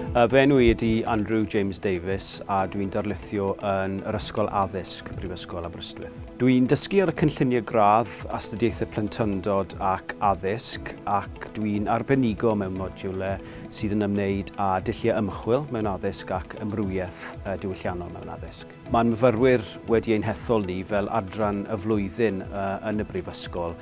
Y fenw i ydy Andrew James Davies a dwi'n darlithio yn yr Ysgol Addysg Prifysgol Aberystwyth. Dwi'n dysgu ar y cynlluniau gradd, astudiaethau plentyndod ac addysg ac dwi'n arbenigo mewn modiwle sydd yn ymwneud â dulliau ymchwil mewn addysg ac ymrwymiaeth diwylliannol mewn addysg. Mae'n myfyrwyr wedi ein hethol ni fel adran y flwyddyn yn y Brifysgol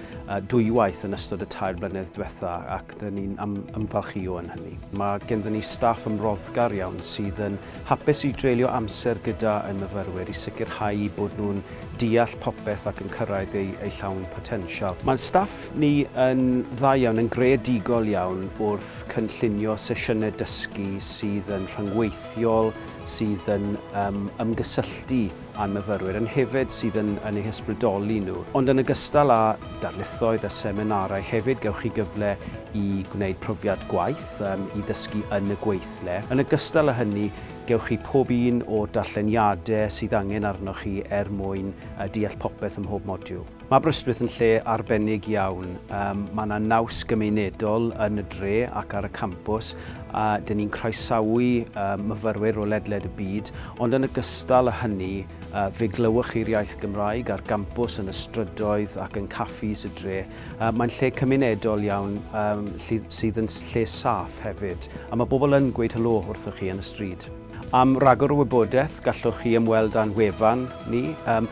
dwywaith yn ystod y tair blynedd diwetha ac dyn ni'n am ymfalchio yn hynny. Mae genddyn ni staff ymroddgar iawn sydd yn hapus i dreulio amser gyda ein myfyrwyr i sicrhau bod nhw'n deall popeth ac yn cyrraedd eu, eu llawn potensial. Mae staff ni yn dda iawn, yn greadigol iawn wrth cynllunio sesiynau dysgu sydd yn rhyngweithiol, sydd yn um, ymgysylltu â myfyrwyr, yn hefyd sydd yn, yn eu hysbrydoli nhw. Ond yn ogystal â darlithoedd a seminarau, hefyd gewch chi gyfle i gwneud profiad gwaith, um, i ddysgu yn y gweithle. Yn ogystal â hynny, gewch chi pob un o'r darlleniadau sydd angen arnoch chi er mwyn uh, deall popeth ym mhob modiwl. Mae Aberystwyth yn lle arbennig iawn. Um, mae yna naws gymunedol yn y dre ac ar y campws a dyn ni'n croesawu um, myfyrwyr o ledled y byd, ond yn y gystal â hynny, uh, fe glywch chi'r iaith Gymraeg ar gampws yn y strydoedd ac yn caffis y dre. Uh, mae'n lle cymunedol iawn um, sydd yn lle saff hefyd, a mae bobl yn gweud helo wrthych chi yn y stryd. Am ragor o wybodaeth, gallwch chi ymweld â'n wefan ni. Um,